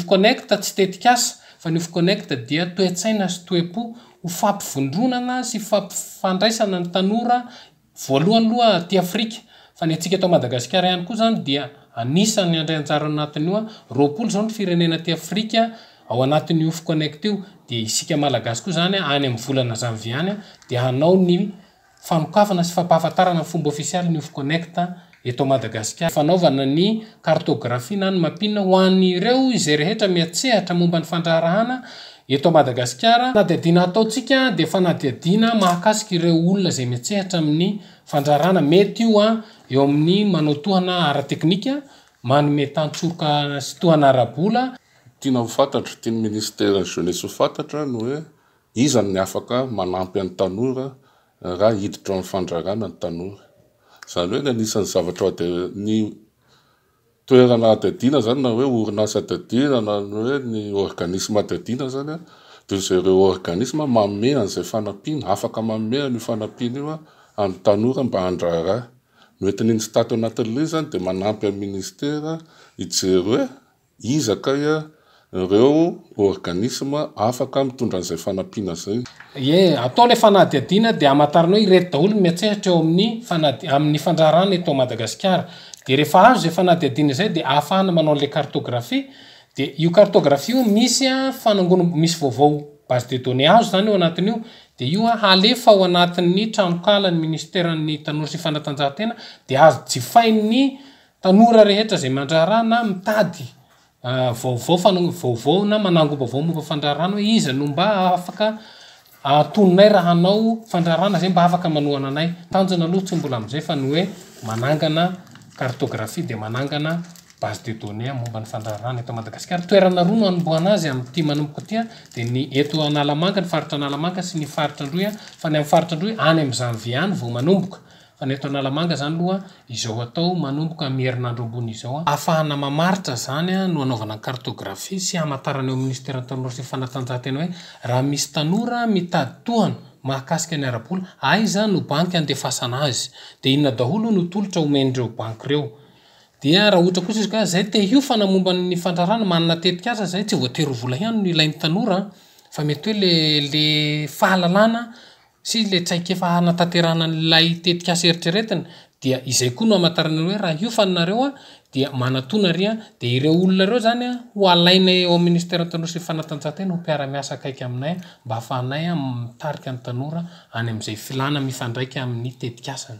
Ufconnect tsy tetikasa fa ny Ufconnect dia toe-tsaina sy toe-po ho fampivondronana sy fampifandraisana ny tanora voalohany loha aty Afrika fa ny antsika eto Madagasikara ihany koa izany dia anisan'ny handray anjara ao anatin'io roapolo izao ny firenena aty Afrika ao anatin'io Ufconnect io dia isika Malagasy koa izany any amin'ny volana Janvier any dia hanao ny Fanokafana sy fampahafantarana ny fomba ofisialy ny Ofconnect eto Madagasikara. Fanaovana ny kartôgrafia na ny mapin ho an'ireo izay rehetra mihatsehatra momba ny fandraharahana eto Madagasikara. Fanadihadiana ataontsika dia fanadihadiana mahakasika ireo olona izay mihatsehatra amin'ny fandraharahana. Mety io eo amin'ny manao tohana ara-teknika, manome tantsoroka sy tohana ara-bola. Tiana ho fantatro, tian'ny Ministeran'ny Jeunesse ho fantatra ny hoe Iza ny afaka manampy an'ny tanora raha hiditra ao amin'ny fandraharana ny tanora? Izany hoe ny anisan'ny zavatra ny toerana adihadiana izany na hoe orinasa adihadiana na ny hoe ny ôrganisma adihadiana izany a, dia izay ireo ôrganisma manome an'izay fanampiana, afaka manome an'io fanampiana io an'ny tanora mba handraharaha. Ny hoentin'iny Stat ao anatin'ilay izy izany dia manampy an'ny minisitera hijery hoe. Iza kay ireo ôrganisma afaka mitondra an'izay fanampiana izay? Ie, atao ilay fanadihadiana dia hamantarana hoe ireto daholo ny miantsehatra eo amin'ny fanadi, amin'ny fandraharahana eto Madagasikara. Dia rehefa azo izay fanadihadiana izay dia ahafahana manao an'ilay cartographie. Dia io cartographie io misy fanangonam, misy vaovao base de données azo izany eo anatin'io. Dia io halefa ao anatin'ny tranonkalan'ny Minisiteran'ny Tanora sy ny Fanatanjahantena dia azo jifain'ny. Tanora rehetra izay mandraharaha na mitady vaovao fanaovana vaovao na manangom-baovao momba fandraharahana hoe iza no mba afaka antononay raha hanao fandraharahana izay mba afaka manohana anay. Tanjona aloha tsy mbola amin'izay fa ny hoe manangana cartographie dia manangana base de données momba ny fandraharahana eto Madagasikara. Toerana roa no hanombohana azy amin'ity manomboka ity dia ny eto Analamanga, ny faritra Analamanga sy ny faritra Androy fa ny amin'ny faritra Androy any amin'ny janvier any vao manomboka Fa ny eto Analamanga izany aloha izao hatao manomboka amin'ny herinandro ambony izao. Hahafahana mamaritra izany no hanaovana ny cartographie sy hamantarana eo amin'ny Ministeran'ny Tanora sy ny Fanatanjahantena hoe raha misy tanora mitady tohana mahakasika ny ara-bola, aiza no banky handefasana azy? Dia inona daholo no tolotra omen'ireo banky ireo? Dia raha ohatra kosa izy ka izay te hiofana momba ny fandraharahana, manana tetikasa izay, tsy voatery ho vola ihany no ilain'ny tanora an! Fa mety hoe ilay ilay fahalalana, sy ilay traikefa hanatanterahana an'ilay tetikasa eritreretina dia izay koa no hamantarana ireo hoe raha hiofana nareo dia manatona ary dia ireo olona ireo zany ho alainay ao amin'ny Ministeran'ny Tanora sy ny Fanatanjahantena ho mpiara-miasa akaiky aminay mba hafahanay mitarika ny tanora any amin'izay filàna mifandraika amin'ny tetikasany.